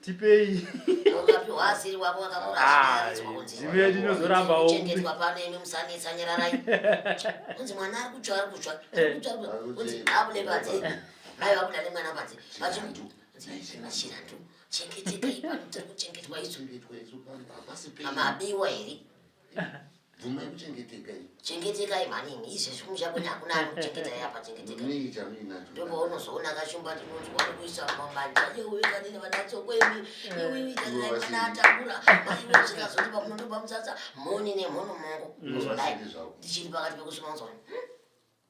tipei wakapiwa asiri wako wakakurashiwe ndinozorambawo kuchengetwa pano imi musanetsa nyararai kunzi mwana ari kutsva ari kutsva kunzi abude panze mai vabuda nemwana panze vachimashiratu chengetekai pano tiri kuchengetwa isu mamabiwa here bvumai kuchengetekai chengetekai maningi izvezvi kumusha kwene hakuna ari kuchengeta yapa chengetekai ndopaunozoona kashumba tinonzwa ari kuisa mumamanja yeuikanini vanatso kwemi iuikaninaatambura maiwe zvikazoti pamunondo pamusasa moni nemhono mongo kuzodai ndichiri pakati pekusuma uzoni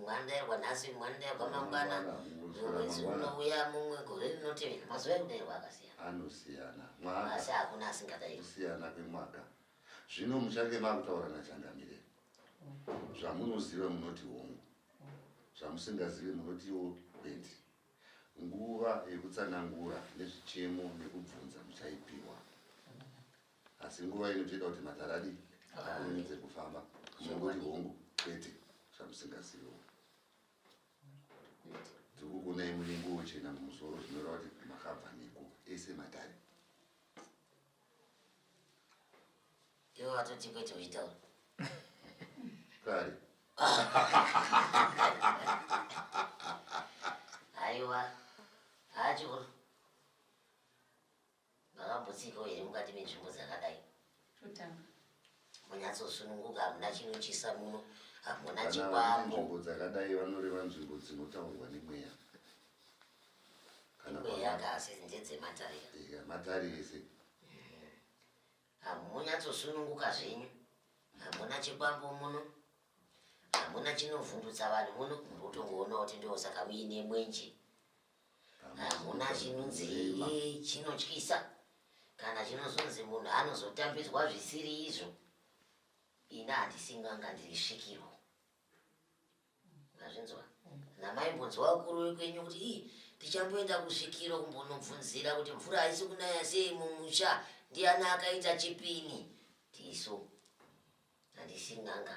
Mwanda yarwa nhasi, mwanda yarwa mangwana, mwedzi unouya mumwe gore rinotevera, mazuva ekuberwa akasiyana. Anosiyana. Mwaka. Asi hakuna asingadairi. Kusiyana kwemwaka. Zvino muchange makutaura naChangamire. Zvamunoziva munoti hongu. Zvamusingazive munotiwo kwendi. Nguva yekutsanangura nezvichemo nekubvunza muchaipiwa. asi nguva inotoita kuti matare adii akurumidze kufamba munongoti hongu kwete zvamusingazivo dzikukunai munenge wochena mumusoro zvinoreva kuti makabva neko ese matare iwo atoti kwete uitaura kare aiwa achikuru Makambotsikawo here mukati menzvimbo dzakadai? Totanga. Munyatsosununguka, hamuna chinotyisa muno, hamuna chikwambo. Nzvimbo dzakadai vanoreva nzvimbo dzinotaurwa nemweya. Mweya kasi ndedzematare. Eya, matare ese. Mm-hmm. Hamunyatsosununguka zvenyu, hamuna chikwambo muno, hamuna chinovhundutsa vanhu muno, muri kutongoonawo kuti ndosaka muine mwenje. hamuna chinonzi chinotyisa kana chinozonzi munhu anozotambidzwa zvisiri izvo ini handisinganga ndiri svikirwo azvinzwa namaimbonzwa vakuru vekwenyu kuti ii tichamboenda kusvikiro kumbonobvunzira kuti mvura haisi kunaya sei mumusha ndiani akaita chipini tisu handisinganga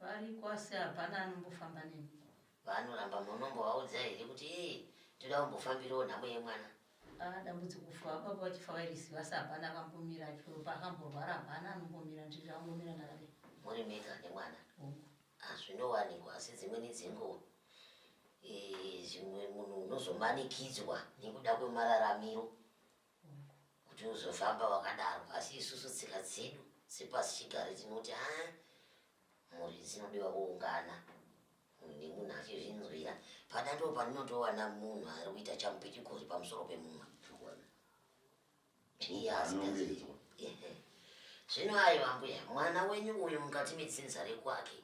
Variko asi hapana anombofamba nemi. Vanoramba munombovaudza here kuti ee toda kumbofambirawo nhamo yemwana? Ah, dambudziko kufa baba vachifa vairiziva asi hapana akambomira achiropa akamborwara hapana anombomira ndiri angomira ndakadai. Muri mega nemwana? Hongu. Hazvinowanikwa asi dzimweni dzenguva eh, zvimwe munhu unozomanikidzwa nekuda kwemararamiro kuti uzofamba wakadaro asi isusu tsika dzedu sepasi chigare tinoti a mhuri dzinodiwa kuungana nemunhu achizvinzwira pada ndo pandinotowana munhu ari kuita chamupitigori pamusoro pemumwe zvino ayo ambuya mwana wenyu uyu mukati metsinza rekwake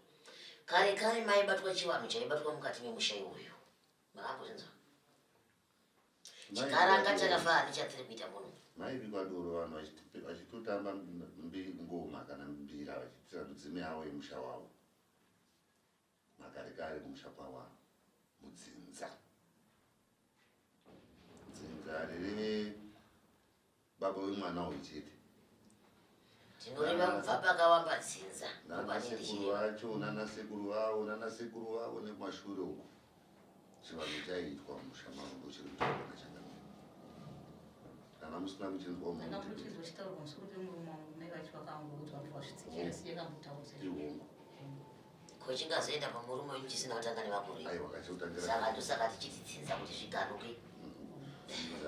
kare kare maibatwa chivanhu chaibatwa mukati memusha iwoyo makambozvinzwa chikaranga chakafara nechatiri kuita muno maivi kwadoro vanhu vachitotamba ngoma kana mbira vachitira mudzimu yavo yemusha wavo makare kare kumusha kwawa mudzinza dzinza riri baba wemwana uyu chete tinorima kubva pakawamba dzinza nanasekuru vacho nanasekuru vavo nanasekuru vavo nekumashure uko chivanhu chaiitwa musha mavo ndochiri kutaura changa kana musina kuchinzwa muihongo ko chingazoenda pamurume wenyu chisina kutanga nevakuru saka ndosaka tichititsinza kuti zviganuke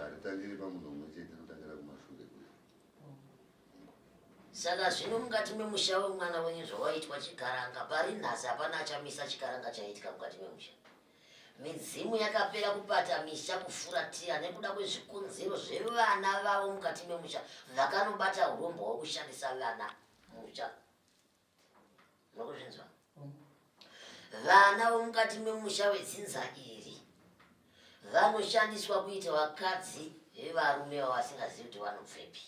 haritangiri pamunhu umwe chete inotangira kumashure saka zvino mukati memusha wemwana wenyu zvawaitwa chikaranga pari nhasi hapana achamisa chikaranga chaiitika mukati memusha midzimu yakapera kubata misha kufuratira nekuda kwezvikonzero zvevana vavo mukati memusha vakanobata urombo hwekushandisa vana musha makuzvinzwa vana vomukati memusha wedzinza iri vanoshandiswa kuita vakadzi vevarume vavasingazivi kuti vanobvepi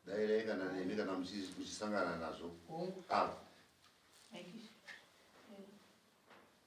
dairei kana nemi kana muchisangana nazvo ava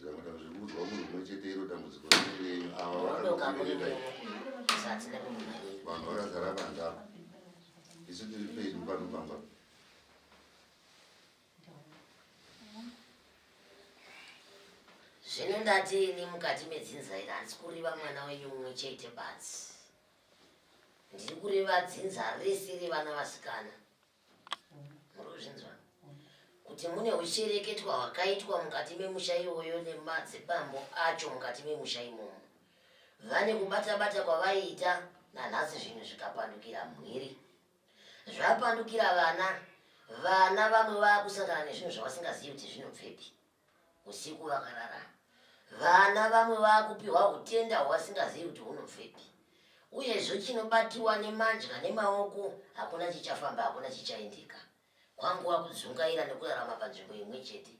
Zvakanaka zvekuudzwa munhu umwe chete iro dambudziko renyu ava vakakubereka vanhu vakazara banda isu tiri pedu pano pamba zvino ndati ini mukati medzinza iri handisi kureva mwana wenyu mumwe chete basi ndiri kureva dzinza rese revana vasikana murikuzvinzwa kuti mune uchereketwa hwakaitwa mukati memusha iwoyo nemadzibambo acho mukati memusha imomo vane kubata bata kwavaiita nanhasi zvinhu zvikapandukira mhiri zvapandukira vana vana vamwe vakusangana nezvinhu zvavasingazivi kuti zvinobvepi Usiku vakarara vana vamwe vakupiwa utenda hwasingazivi kuti hunobvepi uyezvo chinobatiwa nemadya nemaoko hakuna chichafamba hakuna chichaendeka kwanguva kudzungaira nekurarama panzvimbo imwe chete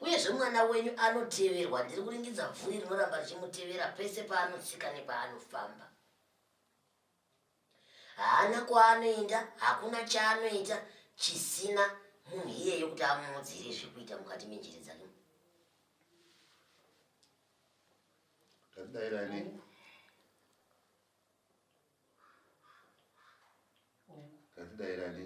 uyezvo mwana wenyu anoteverwa ndiri kuringidza bvuri rinoramba richimutevera pese paanotsika nepaanofamba Haana kwaanoenda, hakuna chaanoita chisina munhu iyeyo kuti amuudzire zviri kuita mukati menjere dzake. Tadai rani. Tadai rani.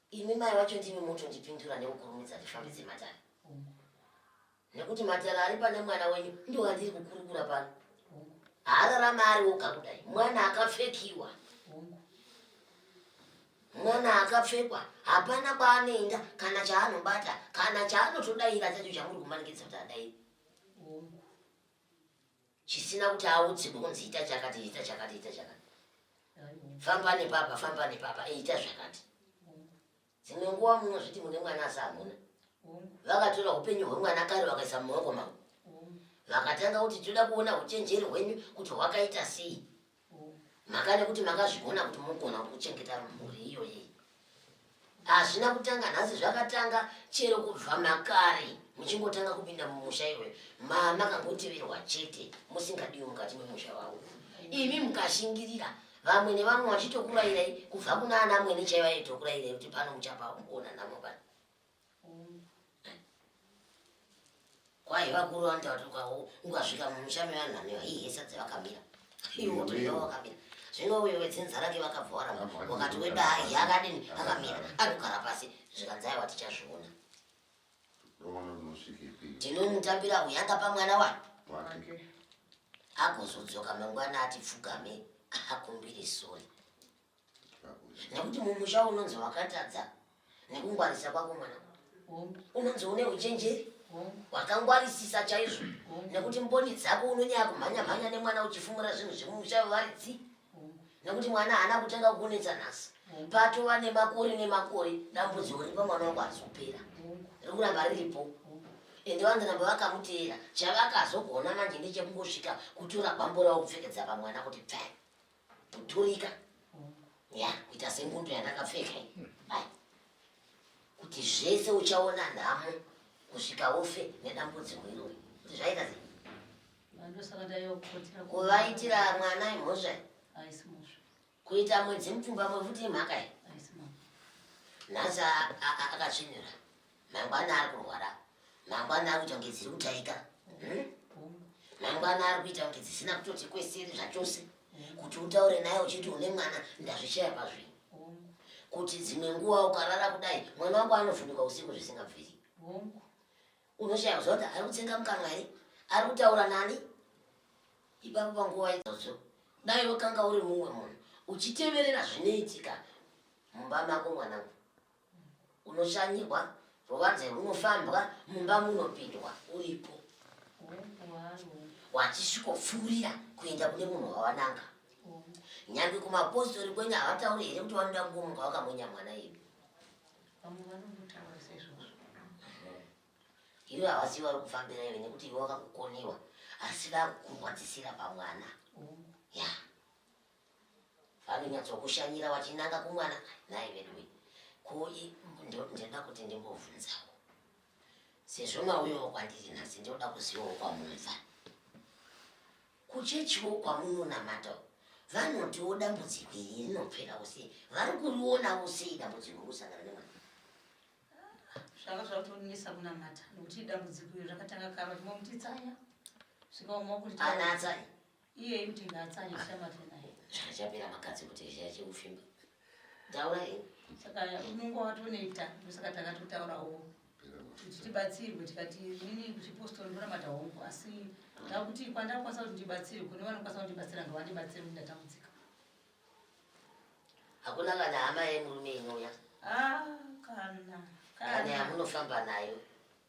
Imi mai wacho ndimi motondipindura nekukurumidza ndifambidze matare nekuti matare ari pane mwana wenyu ndiwo andiri kukurukura pano haararama ari woga kudai mwana akapfekiwa mwana akapfekwa hapana kwaanoenda kana chaanobata kana chaanotodaira chacho chamuri kumanikidza kuti adairi chisina kuti audziko kunzi ita chakati ita chakati ita chakati famba nepapa famba nepapa eita zvakati dzimwe nguva munozviti mune mwana asi hamuna vakatora upenyu hwemwana kare vakaisa mumaoko mavo vakatanga kuti toda kuona uchenjeri hwenyu kuti hwakaita sei makada kuti makazvigona kuti mogona kuchengeta mhuri iyoyi hazvina kutanga nhasi zvakatanga chero kubva makare muchingotanga kupinda mumusha iwe mamakangoteverwa chete musingadiwi mukati memusha wavo imi mukashingirira vamwe nevamwe vachitokurayirai kubva kuna ana mwene chaivaitokurayirai kuti pano muchapaa kuona namo pano kwaiva kuronda kuti ukasvika mumusha mevanhu vane vaihesa dzevakamira iwo toiva wakamira zvino uyo wedzinza rake vakabva waramba wakati wedai yakadini akamira anogara pasi zvikanzai watichazviona tinomutambira kuyanga pamwana wake agozodzoka mangwana ati pfugame akumbire sori nekuti mumusha unonzi wakatadza nekungwarisa kwako mwana unonzi une uchenjeri wakangwarisisa chaizvo nekuti mboni dzako unonyaya kumhanya mhanya nemwana uchifumura zvinhu zvemumusha vevaridzi nekuti mwana haana kutanga kukunetsa nhasi patova nemakore nemakore dambudziko ripa mwana wako harizopera rikuramba riripo ende vanzi ramba vakamuteera chavakazogona manje ndechekungosvika kutura bambo ravo kupfekedza pamwana kuti pfai kuturika ya kuita sengundu yandakapfeka hai kuti zvese uchaona nhamo kusvika ufe nedambudziko irori kuti zvaita sei kuvaitira mwana imhosva kuita mwedzi mupfumba mwefuti imhaka i nhasi akatsvinira mangwana ari kurwara mangwana ari kuita kunge dziri kutaika hmm? mangwana ari kuita kunge dzisina kutoti kwesiri zvachose kuti utaure naye uchiti une mwana ndazvishaya pazvii kuti dzimwe nguva ukarara kudai mwana wangu anovhunduka usiku zvisingabviri unoshaya kuziva kuti ari kutsenga mukanwa here ari kutaura nani ipapo panguva idzodzo dai wakanga uri mumwe munhu uchiteverera zvinoitika mumba mako mwanangu unoshanyirwa ruvanze runofambwa mumba munopindwa uripo wachisvikopfuurira kuenda kune munhu wawananga nyange kumapostori kwenyu havatauri here kuti vanoda kungomuka vakamonya mwana yedu ivo havasi vari kufambira ive nekuti ivo vakakukoniwa asi vakukurwadzisira pamwana ya yeah. vanonyatsokushanyira vachinanga kumwana nhai veduwe ko ndinoda kuti ndimbobvunzawo sezvo mauyawo kwandiri nhasi ndinoda kuzivawo kwamumva kuchechiwo kwamunonamata vanotiwo dambudziko iri rinopferawo sei vari kurionawo sei dambudziko kusangana nemwana zvanga zvautonisa kunamata nokuti dambudziko iri rakatanga karo rimwe mutitsanya zvikaoma kuti ana atsanya iye kuti ngaatsanye chamate naye chaka chapera makadzi kuti zhaya chekufimba taura ini saka unenge watonoita ndosaka takatotaurawo kuti tibatsirwe tikati nini kuchipostor ndonamata hongu asi ndakuti kwandakwanisa kuti ndibatsirwe kune vanokwanisa kundibatsira ngavandibatsire kuti ndatambudzika hakuna kana hama yemurume inouya ah, kana kana yamunofamba nayo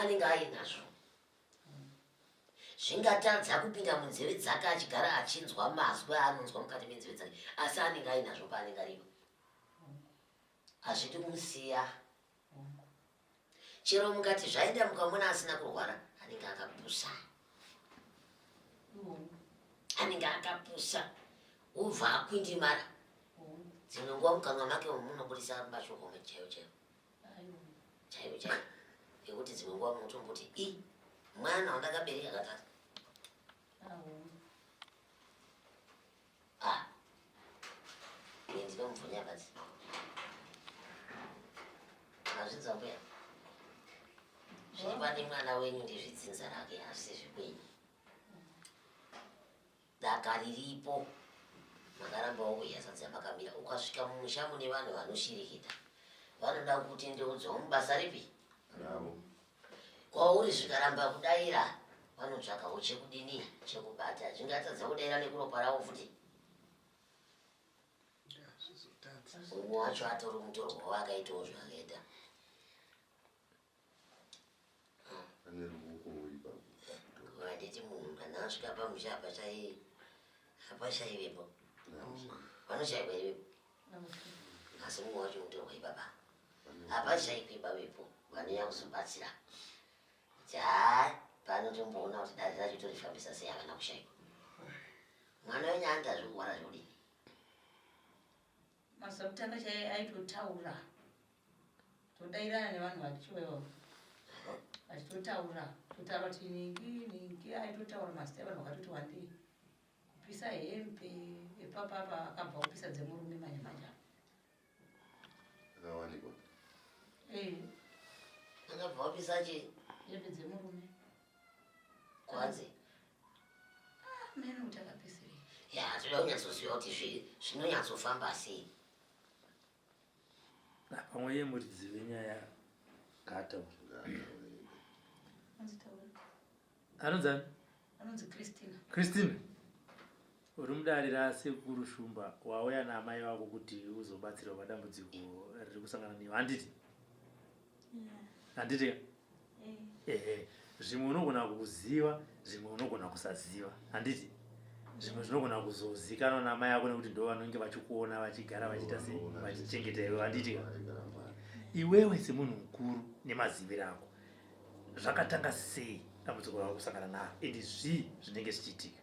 anenge ainazvo zvingatadza kupinda munzeve dzake achigara achinzwa mazwi aanonzwa mukati menzeve dzake asi anenge ainazvo paanenge aripo hazvidi kumusiya chero mukati zvaenda mukamona asina kurwara anenge akapusa anenge akapusa ubva akwindimara dzimwe nguva mukamwa make munobudisa mashoko chaiwo chaiwo chaiyo chaiyo yekuti dzimwe nguva munotomboti i mwana wandakabereka katatu ah. ndinomubvunyakadzi azvidza mbuya zviri pane mwana wenyu ndezvidzinza rake asi zvekwenyu Daka riripo. Makaramba wauya sadza makamira ukasvika mumusha mune vanhu vanoshirikita. Vanoda kutendeudzwa mubasa ripi? Bravo. Kwauri zvikaramba kudaira vanotsvakawo chekudini chekubata zvingatadza kudaira nekuropa ravo futi. Umwe wacho atori mutorwa wake aitawo zvakaita. Handiti munhu kana asvika pamusha apa chaiye hapashaivepo vanoshaiva ivepo asi mumwe wacho mutorwa ibaba hapashaivi bavepo vanouya kuzobatsira kuti haa pano tomboona kuti dare racho torifambisa sei havana kushaiva mwana wenyu andazvikuwana zvodii Mazuva kutanga chaiye aitotaura todairana nevanhu vachiwewo vachitotaura totaura kuti ningi ningi aitotaura mazita evanhu vakatoti wandei kupisa hembe epapapa akabva kupisa dzemurume manje manje akawanikwa ee akabva kupisa chii hembe dzemurume kwanzi ya toda kunyatsoziva kuti zvinonyatsofamba sei pamwe ye muridzive nyaya ngaataure anonzani christina Uri mudare rasekuru Shumba wauya naamai vako kuti uzobatsirwa padambudziko riri kusangana newe handiti? Handiti? Ehe, zvimwe unogona kuziva, zvimwe unogona kusaziva handiti? Zvimwe zvinogona kuzozikanwa naamai ako nekuti ndo vanenge vachikuona vachigara vachiita se vachichengeta iwe handiti? Iwewe semunhu mukuru nemaziviro ako zvakatanga sei dambudziko rauri kusangana naro and zvii zvinenge zvichiitika?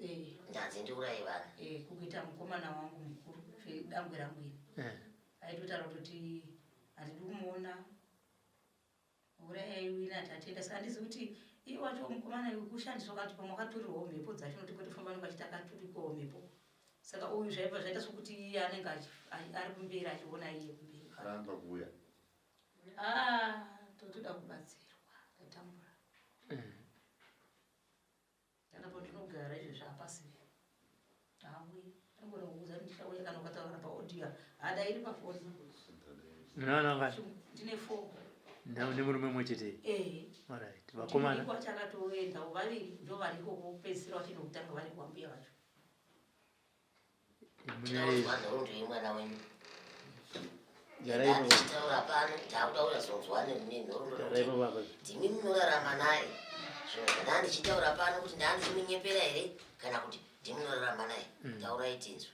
Eh. Ndanzi ndiuraye vana. Eh, kukuita mukomana wangu mukuru zvedangwe rangu iri. Eh. Aitotaura kuti handidi kumuona urayai wina ati atienda saka handizi kuti iye wacho mukomana kushandiswa kati pamwe akaturirwawo mhepo dzacho nokuti kotofamba nonga achiti akaturikwawo mhepo saka uyu zvaiva zvaita sokuti iye anenge ari kumberi achiona iye kumberi aramba kuuya ah, totoda kubatsirwa tatambura mm. Kana pandinogara izvezvi hapasi hauyi angona kuudza kuti ndichauya kana ukataura paaudio hadairi pafoni nononga ndine fo nemurume mwe chete orit vakomana chakatoenda vaviri ndo variko kupedzisira vachindokutanga vari kuambuya vacho ndimi munorarama naye zvinozvandaa ndichitaura pano kuti ndaa ndichimunyepera here kana kuti ndimi munorarama naye mm. taurai tinzwe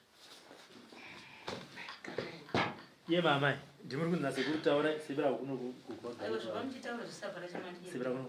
ye mamai ndimuri kunzase kutaura sebira kuno kugoaebira kuno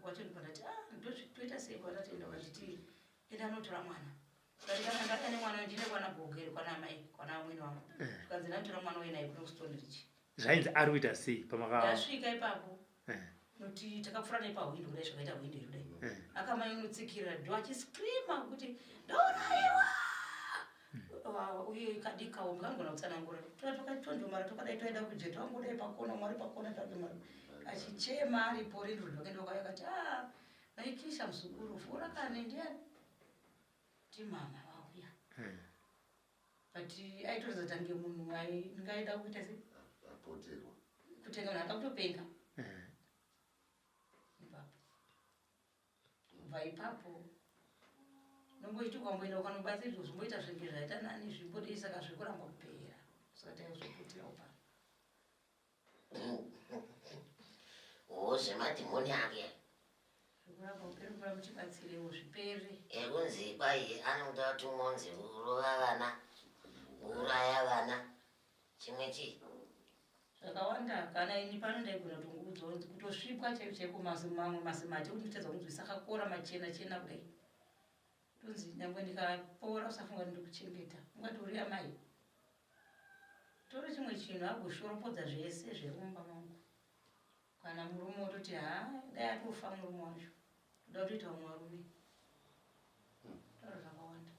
kwacho ndikandati ah ndozvitoita sei kwatatoenda vachiti enda anotora mwana ndikandati ane mwana ndine kwana gogeri kwana amai kwana amwene wangu eh. zvikanzi ndanotora mwana wenaye kuno stone rich zvainzi ari kuita sei pamakasvika ipapo eh. noti takapfura naye pahwindo kudai zvakaita hwindo iri kudai eh. akamai unotsikirira do achiscreama kuti ndauraiwa wawa uye kadikawo ndikangona kutsanangura tona takatondomara tokadai toenda kujeti wangodai pakona mwari pakona zvake mwari achichema aripo rindro zvake ndokaya kati a ah, naikisha muzukuru fura kane ndiani timama vauya hmm. but aitoratidza tange munhu ndingaida kuita se apoterwa kutenga munhu akakutopenga hmm. kubva ipapo nomboiti ukamboenda ukanobata izvo zvimboita zvenge zvaita nani zvimbodei saka zviri kuramba kupera saka taizoputirawo pano zvemadhimoni ake zvekuramba kupera mvura muchibatsirewo zvipere ekunzi kwai anoda tumonzi kurova vana kuuraya vana chimwe chii zvakawanda kana ini pano ndaigona kutongoudzawo kutosvipwa chaiko chaiko mamwe mazimati kuti nditadza kunzwisa akakora machena chena kudai tonzi nyangwe ndikapora usafunga kuti ndikuchengeta ungati uri amai toro chimwe chinhu agoshorombodza zvese zverumba mangu Kana murume ototi haa dai atofa murume wacho toda kutoita umwe varume taura zvakawanda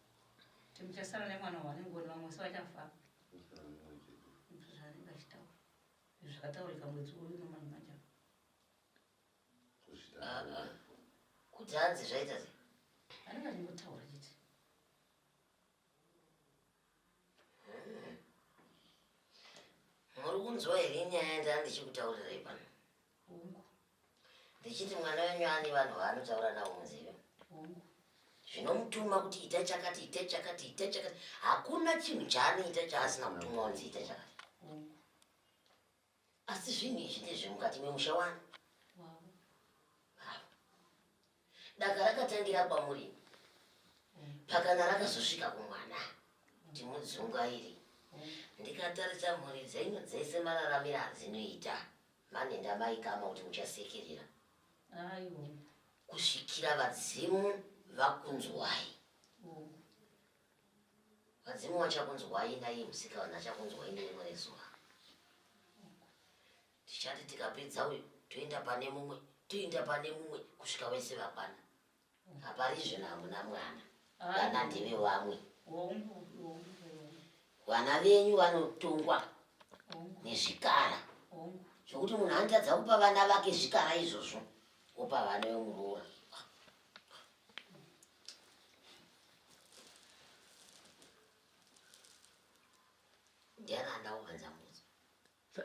kuti muchasara nemwana wanenge one vamwe se vachafa zvaanenge achitaura zvakataurika mwedzi uyu nomani manja kuti hanzi zvaita sei anenge achingotaura chete muri kunzwa here nyaya yandaa ndichikutaurirai pano ndichiti mwana wenyu ani vanhu vaanotaura navo muzive zvinomutuma kuti ita chakati ita chakati ita chakati hakuna chinhu chaanoita chaasina mutumwa unzi ita chakati Asi zvinhu izvi ndezvemukati memusha wani? Daka rakatangira kwamuri pakana rakazosvika kumwana timudzunga iri ndikatarisa mhuri dzenyu dzese mararamira adzinoita mane ndamaikama kuti muchasekerera kusvikira vadzimu vakunzwai Vadzimu vachakunzwai naiye musikavanhu achakunzwai nerimwe rezuva. Tichati tikapedza uyu toenda pane mumwe toenda pane mumwe kusvika vese vakwana. Haparizve nahamuna mwana vana ndeve vamwe. Vana venyu vanotongwa nezvikara zvokuti munhu anotadza kupa vana vake zvikara izvozvo wopa vana vemuroora.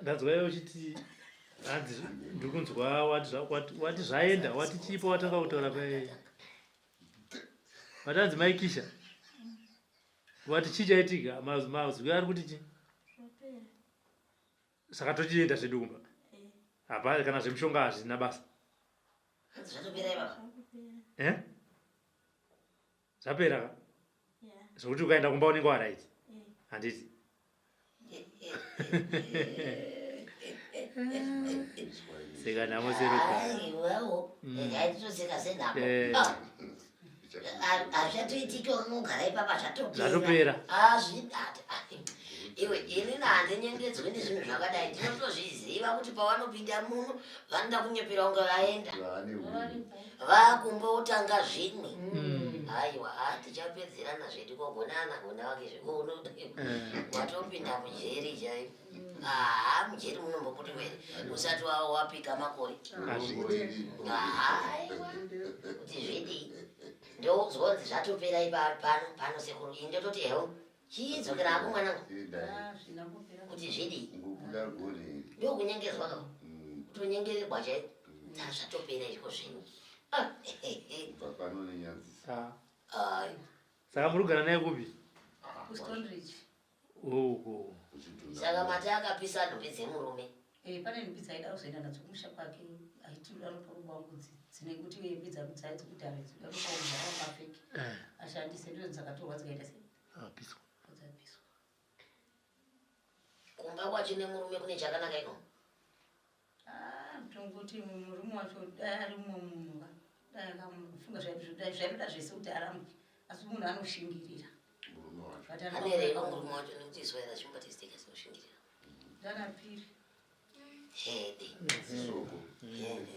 ndanzwa iwe uchiti hanzi ndiri kunzwa wati zvaenda wati chipo watanga kutaura paye vatanzi maikisha vati chii chaitika mazwi ari kuti chii saka tochienda zvedu kumba hapa kana zvemushonga hazvina basa zvatopera ivava eh? zvapera ka zvokuti ukaenda kumba unenge waraiti handiti seka namo seruka aiwawo mm. yaitoseka senamo eh. ah. hazvichatoitiki unogara ipapa zvatopera azvidati ah, ah, iwe ini nahandinyengedzwe nezvinhu zvakadai ndinotozviziva kuti pavanopinda muno vanoda kunyepera kunge vaenda vakumbotanga zvimwe mm. aiwa hatichapedzerana zvedu kogonana gona wake zvekuuno eh. watopinda mujeri chaipo haa mujeri munombobudirwa here usati wava wapika makore kuti zvidii ndozonzi zvatopera ipano pano sekuru ini ndototi hewo chiidzokera hako mwanangu kuti zvidii ndokunyengezwa ka mm. kutonyengererwa chaiko mm. taa zvatopera izvo zvenyu ah, saka muri kugara naye kupi ah, uku saka mati akapisa nhumbi dzemurume eh, pane nhumbi dzaida kuzoenda nadzo kumusha kwake aiti uda ropa rubangudzi dzine kuti nhumbi dzakudzayo dzekuti haizi uda ropa rubhara mafeki eh. ashandise ndizo dzakatorwa dzikaita sei apiswa dzapiswa kumba kwachine murume kune chakanaka ino Haa mutongo kuti murume wacho dai ari mumwe munhu ka dai akafunga zvaitoda zvese kuti arambe asi munhu anoshingirira murume wacho anereva murume wacho nekuti izwa era zvimba tiziteka sinoshingirira ndarapiri hede zisoko hede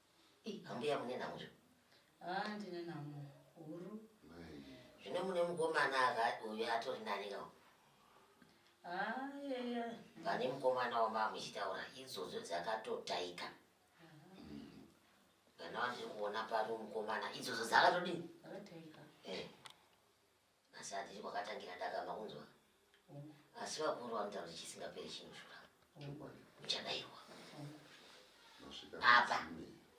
Ambuya mune nhamo zve? Ah, ndine nhamo huru. Zvine mune mukomana uyo atori nani ka? Ah, yeah, yeah. Pane mukomana wamba muchitaura idzodzo dzakatotaika. Kana wandiri kuona pari mukomana idzodzo dzakatodini? Dzakataika. Eh. nhasi handiri kwakatangira daka makunzwa mm. asi vakuru vanotaura kuti chisingaperi chinoshura uchadairwa apa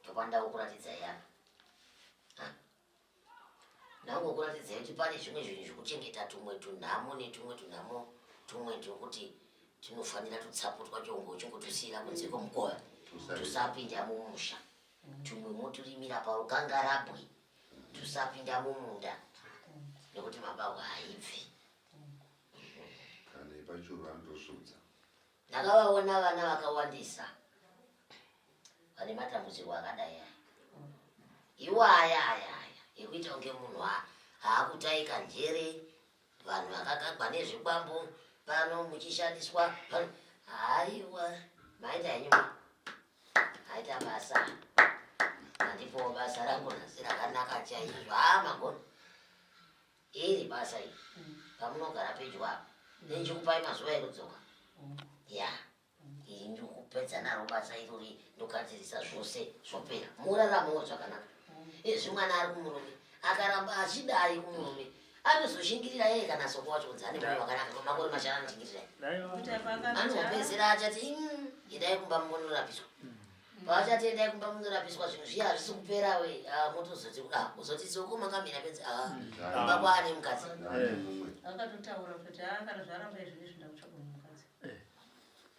tokwanida kukuratidza yapa ndango kuratidza kuti pane zvimwe zvinhu zvekuchengeta tumwe tunhamo netumwe tunhamo tumwe twekuti tinofanira tutsaputwa chongo chongotusiyira kunze kwemukova tusapinda mumusha Tumwe moturimira parukangarabwe tusapinda mumunda nekuti mabahwa haibvi. Kana ipachuru vanotosudza. Ndakavaona vana vakawandisa vane matambudziko akadai aya. Iwo aya aya aya ekuita kunge munhu haakutaika njere vanhu vakagagwa nezvikwambo pano muchishandiswa haiwa maita henyu aita basa handipo basa rangu nhasi rakanaka chaizvo haa magona iri basa iri pamunogara pedyo apo nechikupai mazuva ekudzoka ya yeah. Iri ndiri kupedza naro basa irori ndogadzirisa zvose zvopera moraramawo zvakanaka izvi mwana ari kumurume akaramba achidai kumurume anozoshingirira yeye kana soko wacho kunzi ane moyo wakanaka makore mashanu anoshingirira anozopedzera achati endai kumba munorapiswa paachati endai kumba munorapiswa zvinhu zviya hazvisi kupera we ah, motozoti ah, uzoti soko makamira penzi ah, kumba kwaane mukadzi akatotaura kuti akati zvaramba izvi nezvindakutsvaga Eh,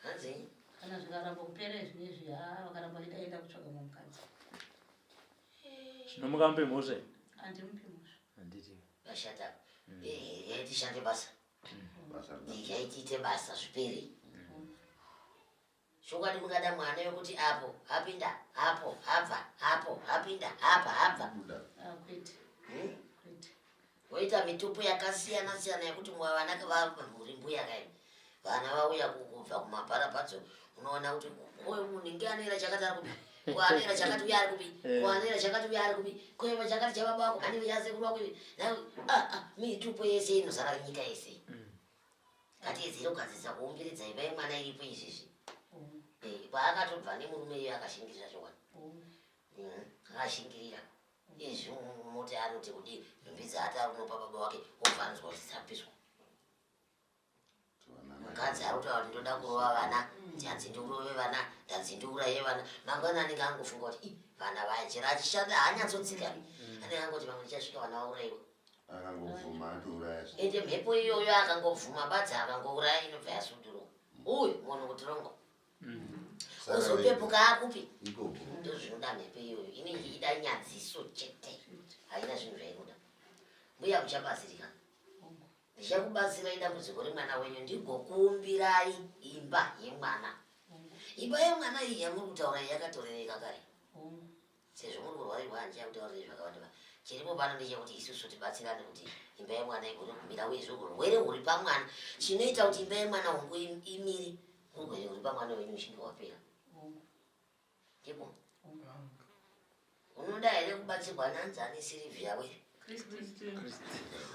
hanzi kana zvikaramba kupera izvi izvi haa vakaramba vaida enda kutsvaga mumwe mukadzi zvino mukambe mhosva iyi handimupi mhosva handiti vashata Mm. Eh, yai tishande basa Basa rina. Eh, yai tiite basa zvipere chokwadi mungada mwana yokuti apo apinda apo abva apo apinda apa abva Buda. Ah, kwete Hmm? Voita mitupo yakasiyana siyana yekuti mwa vana kavamhuri mbuya kai vana vauya kubva kumabharapadzo unoona kuti uyu munhu inge anoera chakati ari kupi kuanoera chakati uya ari kupi eh. kuanoera chakati uya ari kupi kueva chakati chababa wako anenge chasekuru wako ivi nai ah, ah, mitupo yese inozara nyika yese mm. ngatiedzere kugadzirisa kuumbiridza ivai mwana iripo izvizvi mm. eh, paakatobva nemurume iyo akashingirira zvokwadi mm. akashingirira Izvi muti anoti kuti nhumbi dzaati ari kunopa baba wake obva anzwa kuti dzapiswa. Mukadzi ari kutaura kuti ndoda kurova vana, ndanzi ndiurove vana, ndanzi ndiuraye vana. Mangwana anenge angofunga kuti i vana vaya chero achishanda haanyatsotsika. Mm. Anenge angoti vamwe ndichasvika vana vauraiwa. Akangobvuma atouraya. Ende mhepo iyoyo akangobvuma badza akangouraya inobva yasudurwa. Mm. Uyu munhu kutirongo. uzopepuka akupi ndozvinoda mhepo iyoyo inenge ichida nyadziso chete haina zvinhu zvainoda mbuya kuchabatsirika ndichakubatsirai dambudziko remwana wenyu ndigokuumbirai imba yemwana imba yemwana iyi yamuri kutaura yakatorerekakare Sezvo muri kurwarirwa handichai kutaurire zvakawanda ba. Chiripo pano ndechekuti isusu tibatsirane kuti imba yemwana igone kumira uye zviri urwere huri pamwana chinoita kuti imba yemwana hongu imire urwere huri pamwana wenyu uchinge wapera. Ndipo. Unoda here kubatsirwa nanzi ane Sirivhiya we? Kristu.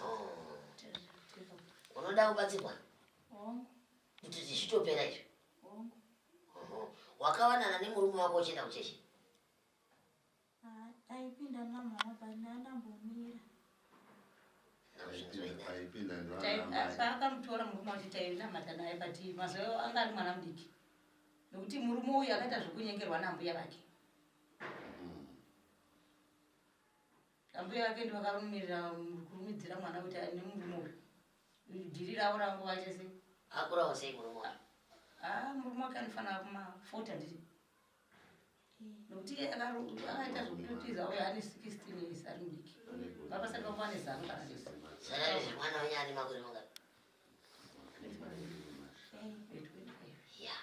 Oh. Unoda kubatsirwa? Kuti zvichitopera izvi. Hongu. Oho. Wakawanana nemurume wako uchienda kuchechi? Ah, taipinda namama pane anambomira. Paakamtora murume wacho tainamata naye but mazoyo anga ari mwana mudiki. Nokuti murume uyu akaita zvekunyengerwa nambuya vake. Ambuya vake ndivakarumirira kurumidzira mwana kuti ane murume uyu. Dhiri ravo rava nguva chese. Akurawo sei murume wake? Ah, murume wake anofanira kuma 40 ndiri. Nokuti iye akaita zvokutiza uye ane 16 years ari mudiki. Baba sati vakuva nezano kana lesi. Saka izvi mwana wenyu ane makore mangani? Yeah.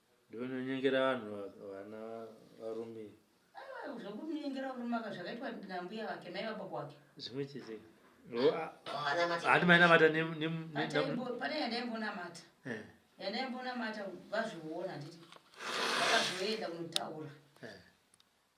ndononyengera vanhu vana varume zvokunyengera varume aka zvakaitwa nambuya vake mai vababa wake zvimwe chete hati mainamata pane yandaimbonamata eh. yandaimbonamata vazviona nditi vakazoenda kunotaura eh.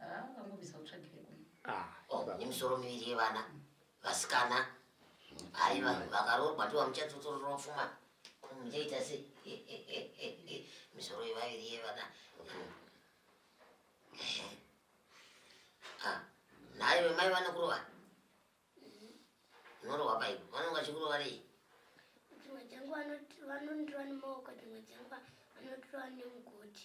Ah, ukangobvisa utsvagire kumwe. Ah, Oh, baba. nemisoro miviri yevana vasikana haiva vakaroorwa ndiwa muchatsotorora pfuma muchaita se misoro yevaviri yevana Ah, nayo vemai vanokurova unorova paipo vanonga vachikurova rei dzimwe dzenguva vanoti- vanondirova nemaoko dzimwe dzenguva vanotirova nemugoti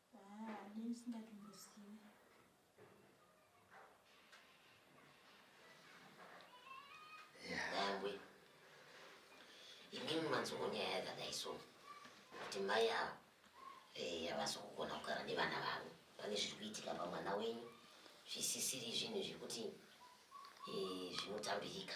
Haa ndini ndisingatombozivi. Yangwe. Imini manzongo nyaya yakadai so kuti mai ava eh, havasi kugona kugara nevana vavo pane zviri kuitika pamwana wenyu zvisisiri zvinhu zvekuti eh, zvinotambirika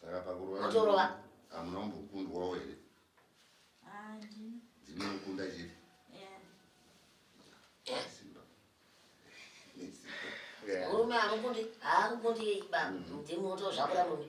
saka pakurova hamuna kumbokundwawo here dzinokunda chii murume amukundi aakukundi baba ndimuto zvakura murume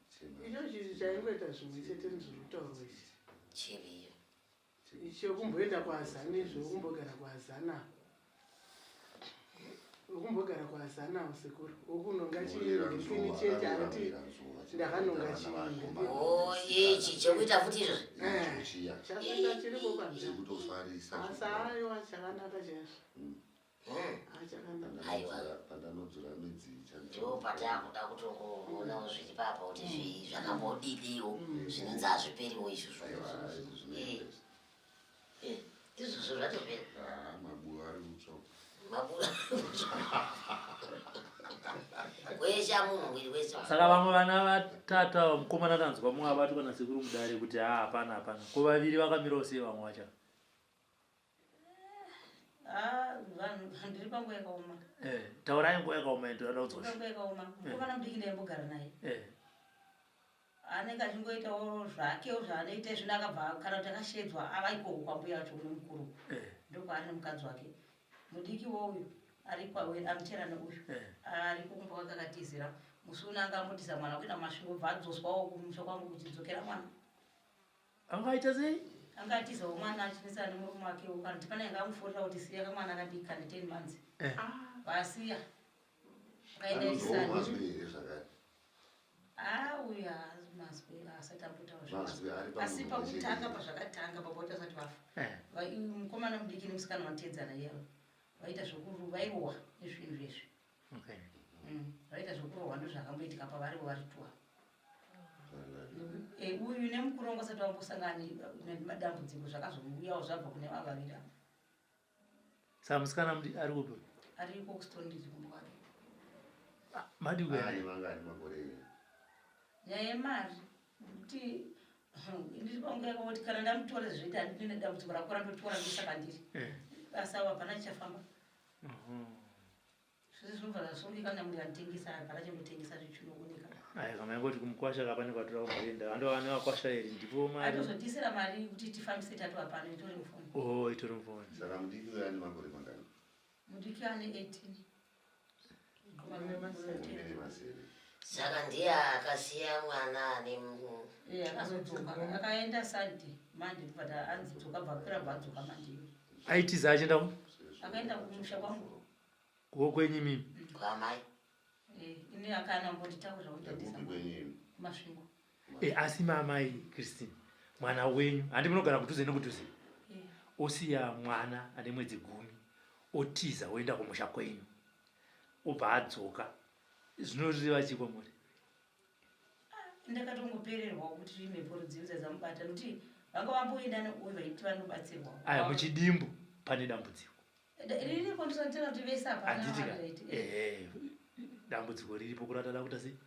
izvozvi izvi chaingoita zvimwe chete nezviri kutaurwa izvi chiriyo ichi wekumboenda kuazana izvi wekumbogara kuazana wekumbogara kuazana usekuru wekunonga chiini chete ati ndakanonga chiiye ichi chekuita futi izvozvi eh, chasata chiriko panzaa asi ayo achakanaka chaizvo mm. pandanodzura midzi ndopatakuda kutongoonao zviri papa kuti zvii zvakambodidiwo mm. zvinonzi hazviperiwo izvozvo eh, eh, izvozvo zvatopera ah, mabuva ari kutsva mabuva weshe amunhu mwiri wese saka vamwe vana vatatu ava mukomana tanzwa mumwe abatwa nasekuru mudare kuti haa hapana hapana ko vaviri vakamirawo sei vamwe vacha Ah, vanhu ndiri panguva yakaoma Eh, taurai nguva yakaoma yedu yada kudzosha panguva yakaoma mukomana mudiki ndaimbogara naye Eh, anenge achingoitawo zvakewo zvaanoita zvino akabva kana kuti akashedzwa ava ikoko kwambuya vacho kune mukuru eh, ndokwaari nemukadzi wake mudiki wouyu ari kwawe amuterana uyu eh. ari kumba kwake akatizira musi uno anga ambotisa mwana kuenda kumasvingo bva adzoswawo kumusha kwangu kuti dzokera mwana anga aita sei anga atiza umwana achinetsana nemurume wake uko kana tipana yanga amuforera kuti siya kamwana akadiki kane ten months eh. vasiya akaenda isana auya mazwi asati ambotauraasi pakutanga pazvakatanga pakuti asati vafa eh. mukomana mudiki nemusikana vanotedzana yavo vaita zvekuru vairohwa nezvinhu zvezvi okay mm. vaita zvekurohwa ndozvakamboitika pavarivo vari tua eh, uyu nemukuru wangu asati vambosangani nemadambudziko zvakazouyawo zvabva kune vavavira saa musikana ari kupi ari iko kustondizi kumbwari ah, madi kuyaani vangani makore nyaya yemari kuti ndiri pangu yako kuti kana ndamutore zvoita handine dambudziko rakora ndotora ndosaka ndiri eh. basa avo hapana chichafamba zvinobva zvasungika kana munhu anotengesa apa akachandotengesa zvichinooneka ayi kana ingoti kumukwasha ka pane kwatora kuenda ando vane vakwasha iri ndipo mari atozodisira mari kuti tifambise tatu apano itori mufoni o oh, itori mufoni saka mudiki uyo ane makore mangani mudiki ane 18 saka ndiye akasiya mwana ane akaenda sadi mandi but anzi dzoka bvakura bvadzoka mandi aitiza achienda ku akaenda kumusha kwangu ko kwenyu mimi kwamai eh, ini akana mbonditaurira undatisa masvingo e, asi maamai christine mwana wenyu handi munogara kudhuze nekudhuze yeah. osiya mwana ane mwedzi gumi otiza oenda kumusha kwenyu obva adzoka zvinoreva chii kwamuri ndakatongopererwa kuti mhepo rudzivi dzadzamubata nokuti vanga vamboenda neuyo vaiti vanobatsirwa aya muchidimbu pane dambudziko riripo ndisatira kuti vese apanaitika dambudziko riripo kurata dakuta sei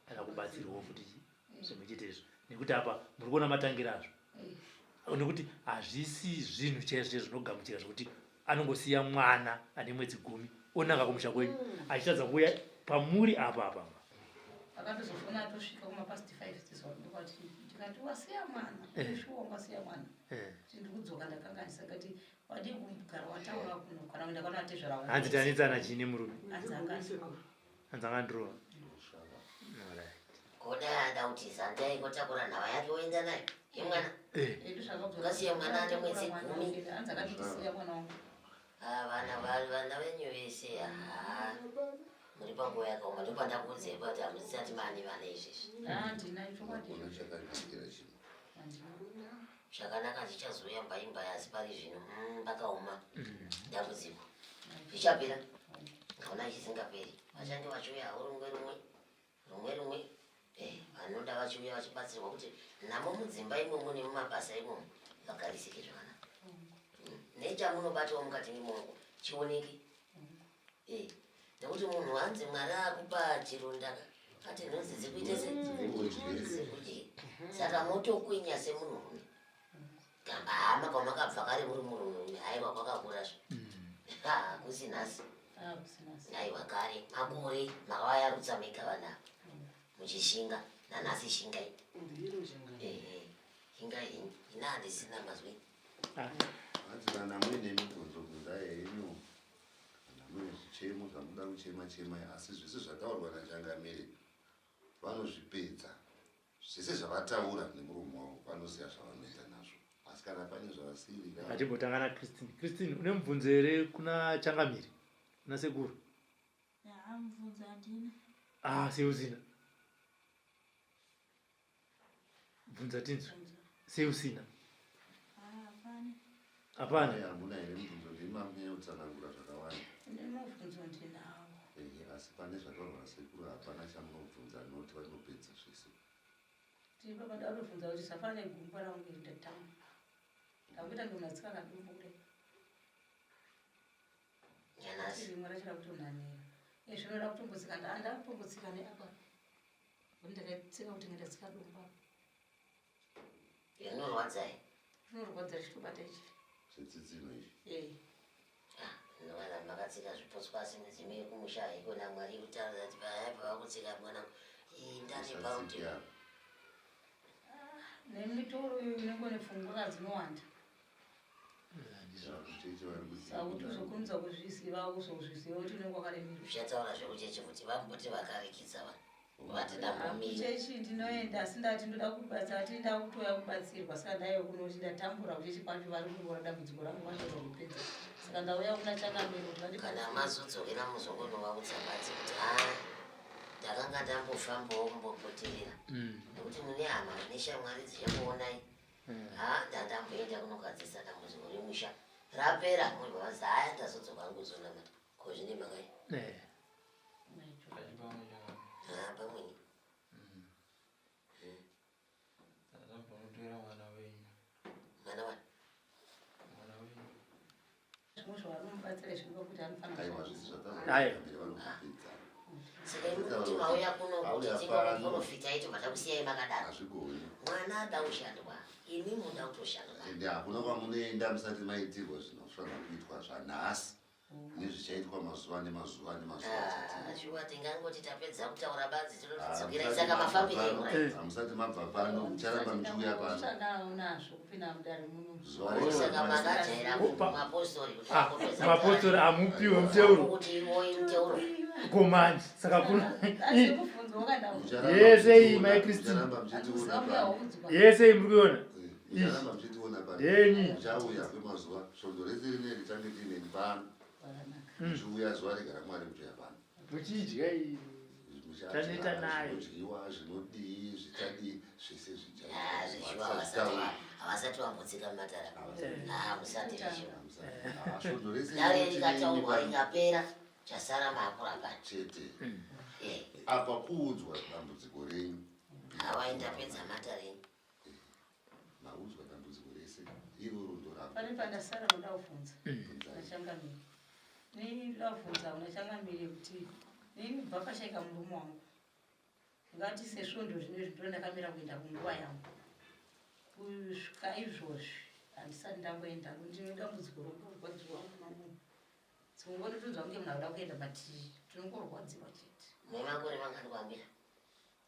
kana kubatsirwawo futi zvimwe chete izvo nekuti apa muri kuona matangira azvo nekuti hazvisi zvinhu chaizvo chaizvo zvinogamuchira zvekuti anongosiya mwana ane mwedzi gumi onaka kumusha kwenyu achitadza kuuya pamuri apa apa akatozofona atosvika kumapast five tizoaati ndikati wasiya mwana eh. shuwa wasiya mwana eh. ti ndikudzoka ndakanganisa kati wadii kugara wataura kuno kana kuenda kwana atezvara hanzi tanetsana chii nemurume hanzi angaa hanzi akandirova koda ada kuti zanda ingotakura nhava yake woenda nayo yemwana ungasiya mwana ane mwedzi gumi vana vana venyu vese haa muri panguva yakaoma ndopandakuudzai kuti hamusisati mani vana izvezvi zvakanaka zvichazouya mbai mbai asi pari zvino mm, pakaoma mm. dambudziko zvichapera ndaona chisingaperi vashandi vachiuya urungwe rumwe rumwe rumwe eh, vanoda vachiuya vachibatsirwa kuti namo mudzimba imomo nemumabasa imomo vagarisike zvakanaka mm. nechamunobatawo mukati memongo chioneke Eh, nekuti munhu hanzi mwari akupa chironda ati nhunzi dzikuite sekuti saka motokwinya semunhurume kamba hama kwamakabva kare muri murume haiwa kwakakura zvo hakusi mm. nhasi haiwa kare makore makavayarutsa mega vana muchishinga nanhasi shinga i shinga ina handisina mazwi ah. hanzi kana muine mibvunzo bvunzai henyu kana mune zvichemo zvamuda kuchema chema asi zvese zvataurwa nachangamire vanozvipedza zvese zvavataura nemurume wavo vanoziva zvavanoita nazvo asi kana pane zvavasiriatimbotanga na christine christine une mubvunzo here kuna changamire kuna sekuru ah seuzina Bvunza tinzwe. Sei usina? Hapana. Hapana. Hamuna here mubvunzo ndimi mamunyanya kutsanangura zvakawanda. Nemubvunzo ndinawo. Ehe, asi pane zvataurwa nasekuru hapana chamunobvunza not vanopedza zvese. Ndipo padarobvunza kuti zvafana negumbo rangu iri ndatamba. Ndakuita ndonatsika kadumbu kudai. Nyanasi. Rimwe racho rakutonhanira. Izvi zvinoda kutombotsika nda- ndakutombotsika neapa. ndakatsika kuti ndikatsika domba zvinorwadza zvinorwadza zvichitobata ichi zvetsitsino izvi eh. ah, ndovana makatsika zvipotswa asi midzimu yekumusha haikona mwari kutaura kuti payaipa vakutsika mwana indanebauti ah, nemitoro iyo inenge nefunguka dzinowanda sauti zvokunza kuzviziva kuzozviziva kuti unenge wakaremerwa uchataura zvekuchechi kuti vamboti vakarikidza vanhu vatidambomichechi ndinoenda asi ndati ndoda kubatsa ati ndakutouya kubatsirwa saka ndaive kunoti ndatambura kuchechi kwacho vari kundiona dambudziko rangu vashova kupedza saka ndauya kuna changamiro kuti kana mazodzokera muzokonovaudza bati kuti a ndakanga ndambofambawo kumbopoterera mm. nekuti mune hama neshamwari dzichakuonai hmm. haa ah, ndatamboenda kunogadzisa dambudziko remusha rapera munhu vanzi haya ndazodzoka hangu kuzonamata ko zvine makai eh. ah, pamweni hmm. hmm. mwana wani hakuna kwamunoenda musati maitirwa zvinofanira kuitwa zvanhasi nezvichaitwa mazuva nemazuva nemazuvaashuwa ah, tingangoti tapedza kutaura badzi tinozvidzokera ah, saka mafambiro hamusati mabva pano mucharamba muchiuya pano mapostori amupiwe muteuro komanji saka kuna yese iyi mai kristin yese iyi muri kuiona yenyi zviuya zuva regara mwari mutoya pano muchidya taneta nayo zvinodyiwa zvinodii zvichadii zvese zvichaaavasati vambotsika mumatara musati zvivoaodoreseikataurwa ikapera chasara maakuramba chete apa kuudzwa dambudziko renyu hawaindapedza matarenyu maudzwa dambudziko rese iroro ndorako pane pandasara noda kuvhunza nachangamire nini ndoda kuvhunza kuna changamire kuti nini kubva pashaika murume wangu ngati sesvondo zvine zvindo ndakamira kuenda kunguva yangu kusvika izvozvi handisati ndamboenda ndine dambudziko rokurwadziwa munomu tsingototonzwa kunge munhu akuda kuenda but tinongorwadziwa chete nemakore mangani kwambira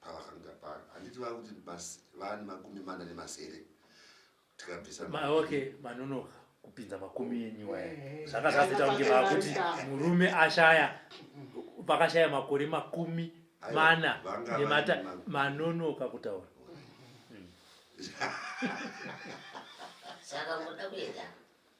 pavafambira pano handiti vava kuti vava nemakumi mana nemasere tikabvisa okay manonoka kupinza makumi enyu waya zvanga zvazoita kunge vava kuti murume ashaya vakashaya makore makumi mana nemata manonoka kutaura hmm. saka muda kuenda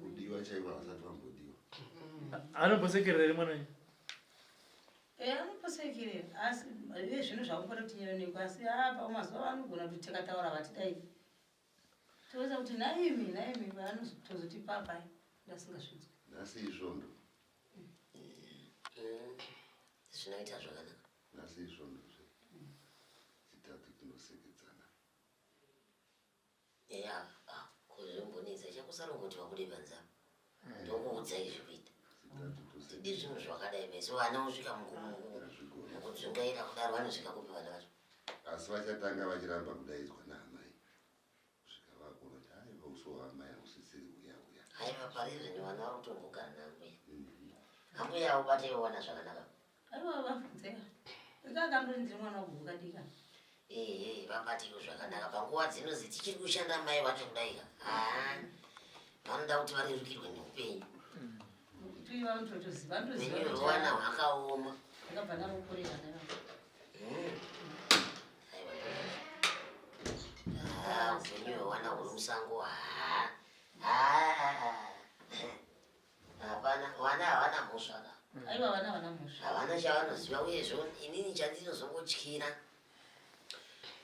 kudiwa chaivo havasati vambodiwa anombosekerera ri mwana wenyu eh, anoposekerera asi ive zvinhu zvakumbori kuti nyeroneko asi apa mazuva vanogona kuti tikataura vatidai toza kuti naimi naimi vanotozoti papai ndasingasvidzwe nhasi isvondo eh, zvinoita zvakanaka nhasi isvondo zve chitatu tinosekedzana eya ah, kuzvimbonetsa chakusara kungoti vabude panze apa eh. ndokuudza izvi kuita tidi zvinhu zvakadai meso vana vosvika mukudzungaira kudaro vanosvika kupi vana vacho asi vachatanga vachiramba kudaidzwa naamai kusvika vakunoti aiva uso waamai hausisiri uya uya aiva pari zvinhu vana vari kutongogara naambuya mhm. ambuya aubate yowana zvakanaka Aiwa vabvunzeka. Ndakakando ndiri mwana wabhuka dika. Ehe, vambatiwo zvakanaka panguva dzino dzitichiri kushanda mai vacho kudaika. Ah. Vanoda kuti varerukirwe neupenyu. Kuti vanototoziva ndoziva. Upenyu kuti hwewana vana- hwakaoma. Ndakabva ndamukorera ndakabva. Mm. Aiwa. Ah, upenyu hwewana huri musango. Ah. Ah. Hapana, vana havana mhosva ka. Mm. Aiwa vana havana mhosva. Havana chavanoziva uyezvo inini chandinozongotyira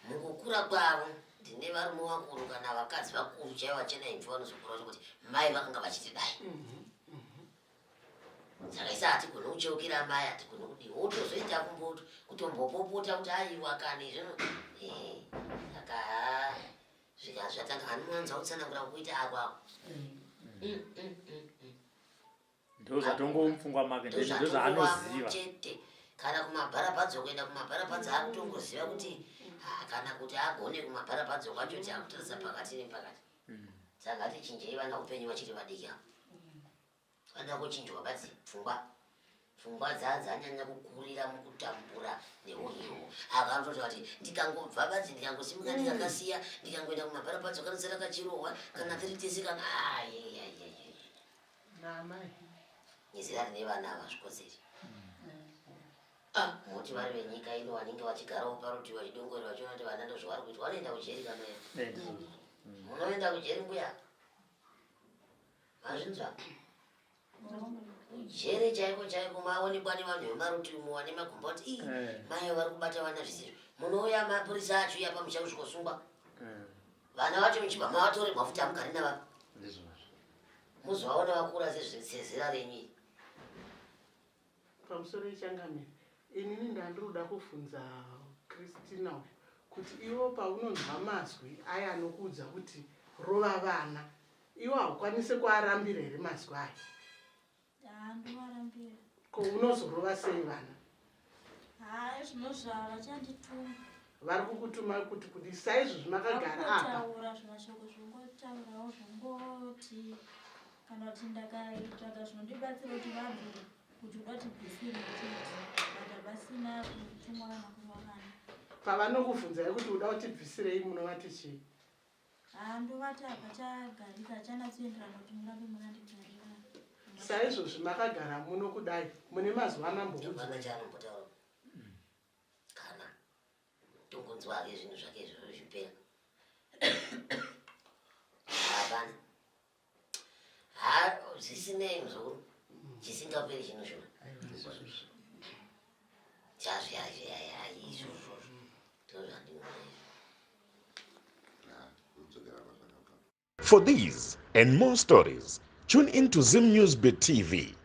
mukukura kwavo ndine varume vakuru kana vakadzi vakuru chaivo vachena imvi vanozokura vacho kuti mai vakanga vachiti dai mhm, mhm. saka isa hatigone kucheukira mai hatigone kudii wotozoita kumboto kutombopopota kuti aiwa kani zvino eh, saka Zvika zvatanga anowanza kutsanangura kuita ako ako. Mm, mm, mm, mm, mm. Ndoo zvatongomupfungwa make ndoo Ndozvatokuwa zvaanoziva. chete. Kana kumabharapadzo kuenda kumabharapadzo akutongoziva kuti ah, kana kuti agone kumabharapadzo kwacho kuti akutarisa pakati nepakati. Mm. Saka hatichinjei vana upenyu vachiri vadiki ava. Anoda kuchinjwa badzi pfungwa pfungwa dzadzanyanya kukurira mukutambura neuhiwo ava anototi vati ndikangobva badzi ndikangosimuka mm. ndikakasiya ndikangoenda kumabhara padzo kanosara kachirohwa kana tiri tese kana nezera rine vana ava zvikodzeri mm. ah, moti vari venyika ino vanenge vachigarawo parutivi vachidongorera vachiona kuti vana ndozvavari kuitwa vanoenda kujeri kana munoenda kujeri mbuya Mazvinzwa. Jere chaiko chaiko maonekwa nevanhu vemarutimu wane magomboti iyi eh. mayo vari kubata vana zvisizvo munouya mapurisa acho iya pamusha kusvikosungwa eh. vana vacho muchibva mavatore mafuta amugari navapa muzovaona vakura sezera renyu iyi Pamusoro yechangamire inini ndandiroda kuvhunza Christina uyu kuti iwo paunonzwa mazwi aya anokuudza kuti rova vana iwo haukwanise kuarambira here mazwi aya? Haa ndomarambira. Ko unozorova sei vana? Haa zvino zvava vachandituma. Vari kukutuma kuti kuti saizvozvi makagara apa? Taura zvimashoko zvongotaurawo zvongoti kana kuti ndakaitsvaga zvinondibatsira kuti vabvire kuti uda kuti bvisire chete vada vasina kutumwa kana kuvakana pavanokubvunzai kuti uda kuti bvisirei munovati chii haa ndovati hapachagarika hachanatsoenderana kuti murambe makandigarira saizvozvi makagara muno kudai mune mazuva anambokuaaaanobotaura mm. kana tongonzwa hake zvinhu zvake izvozvo zvipera zvisinei muzukuru chisingaperi chinoshona chazviazviaizvozvo For these and more stories, tune in to Zim News Beat TV.